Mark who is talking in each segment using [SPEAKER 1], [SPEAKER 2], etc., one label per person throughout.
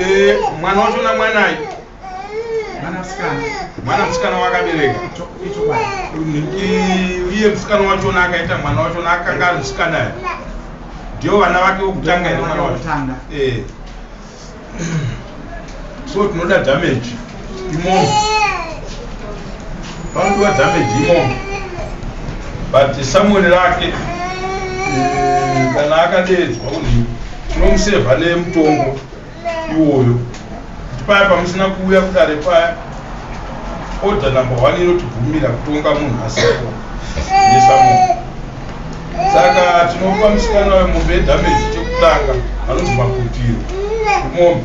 [SPEAKER 1] Eh, mwana wacho na mwana ayi. Mwana msikana. Mwana msikana wakabereka. Icho kwa. Iye msikana wacho na akaita mwana wacho na akanga msikana ayi. Ndio vana vake wokutanga iri mwana wacho. Eh. So tinoda damage. Imomo. Vanhu va damage imomo. But Samuel rake eh, kana akadedzwa kuti tinomusevha nemutongo iwoyo paya pamusina kuuya kudare paya order number one inotibvumira kutonga munhu asipo nesamuno saka tinopa musikana wemombe yedamage chekutanga anonzi maputiro imombe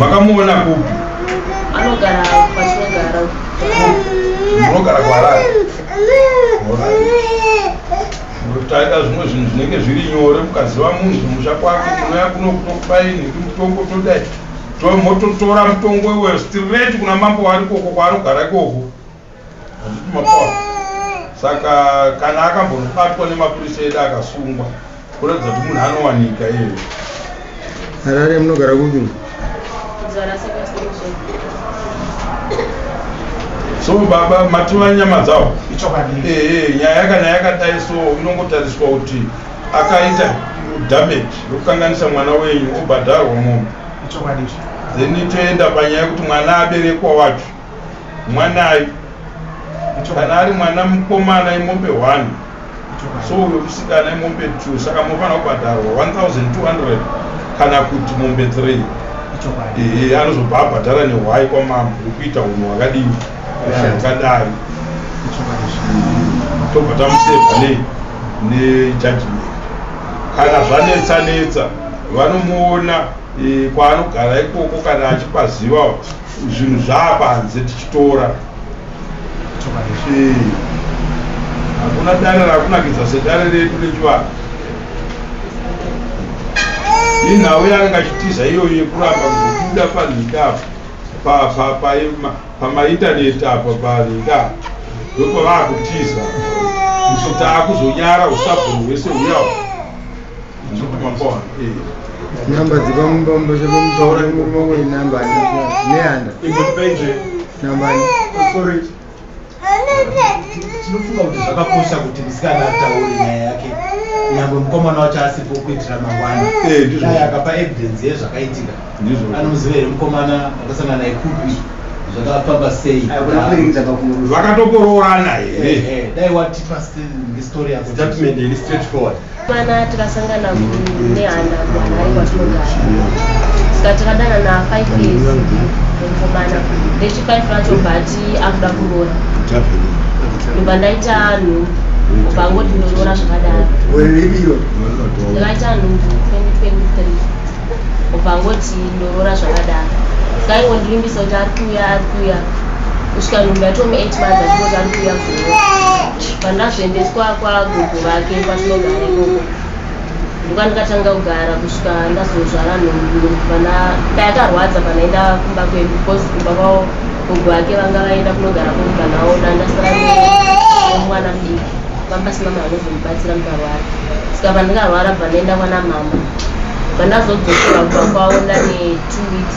[SPEAKER 1] makamuona kupi
[SPEAKER 2] anogara kwatinogara
[SPEAKER 1] munogara kwaharare taida zvimwe zvinhu zvinenge zviri nyore mukaziva munhu kumusha kwake munoya kuno kutokubaini mutongo todai mototora mutongo iweyo straight kuna mambo wari koko kwaanogara ikoko saka kana akambonobatwa nemapurisa edu akasungwa kuratidza kuti munhu anowanika iyeyo
[SPEAKER 3] harare munogara kupi
[SPEAKER 1] so baba mativa nyama dzavo ee nyaya kana yakadai so inongotariswa kuti akaita damage yokukanganisa mwana wenyu obhadharwa mombe then toenda panyaya yekuti mwana aberekwa wacho mwanayi kana ari mwana mukomana imombe 1 so uyo musikana imombe 2 saka mofanira kubhadharwa 1200 kana kuti mombe 3 ehe anozobva abhadhara nehwai kwamambo ukuita unhu wakadii ukadai tobva tamuseva nei nejudgment kana zvanetsa netsa vanomuona eh, kwaanogara ikoko kana achipaziva zvinhu zvaapanze tichitora hakuna dare rakunakidza sedare redu rechivanhu inhau yanga achitiza iyoyo yekuramba kuzobuda panhika apa pamaintaneti apa panhika ndopavaakutiza so taakuzonyara usabhoni hwese huyawa
[SPEAKER 3] Namba dzepamumba chepamutaura murume wei namba neanda namba
[SPEAKER 4] sorry tinofunga kuti zvakakosha kuti musikana ataure nyaya yake nyangwe mukomana wacho asipo kuitira mangwana dai eh, akapa evidence yezvakaitika anoziva here mukomana akasangana naye kupi zvakafamba sei vakatokoroorana
[SPEAKER 1] here eh, eh, dai watipa
[SPEAKER 4] story yako statement ili straight forward Mana tikasangana nehanda kuHarare
[SPEAKER 2] kwatinogara saka takadanana five years mukomana rechi five racho but akuda kuroora ndobva ndaita nhu kubva ngoti ndoroora zvakadaro ndakaita nhu 2023 kubva ngoti ndoroora zvakadaro saingondirimbisa kuti ari kuuya ari kuuya kusvika nhumbi yatomu eight months achingoti ari kuuya kuroora Pandazoendeswa kwagogo vake kwatinogara ikoko ndokwandikatanga kugara kusvika ndazozvara nhumbu pana payakarwadza panaenda kumba kwedu because kumba kwavo gogo vake vanga vaenda kunogara kumba navo dandasara mwana mudiki vambasina mari vanozomubatsira mukarwara saka pandikarwara bva ndaenda kwana mama bva ndazodzokerwa kumba kwavo ndane two weeks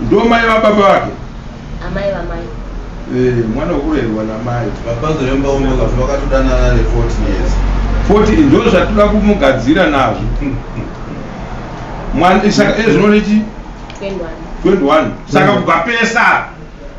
[SPEAKER 1] Ndo mai va baba vake. Amai va
[SPEAKER 2] mai. Eh, mwana ukurerwa
[SPEAKER 1] na mai. Baba zviremba umwe
[SPEAKER 5] kuti vakatodanana ne 40 years. 40 ndo
[SPEAKER 1] zvatoda kumugadzira nazvo. Mwana isaka ezvinonechi 21. 21. Saka kubva pesa.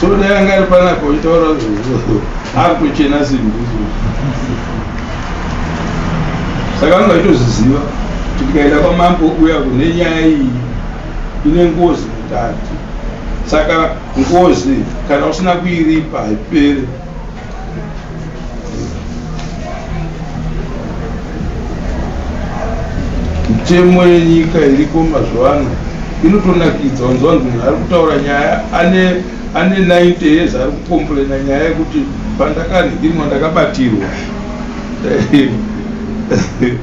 [SPEAKER 1] so dai anga ari panapa uchitaura akutochena simbuzi saka anga itozviziva kuti tikaenda kwamambo uya kune nyaya iyi ine ngozi mutatu saka ngozi kana usina kuiripa haipere Mitemo yenyika iriko mazuva ano inotonakidza wanzwa wanzi munhu ari kutaura nyaya ane ane 90 years ari kukomplaina nyaya yekuti pandakadhimwa ndakabatirwa eh, eh, eh,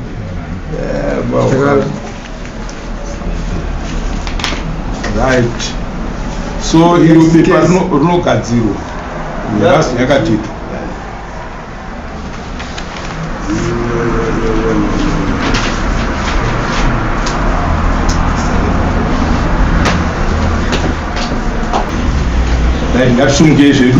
[SPEAKER 1] right so iro pepa rinogadzirwa nerasi yakatitwa right ngatisungei zvedu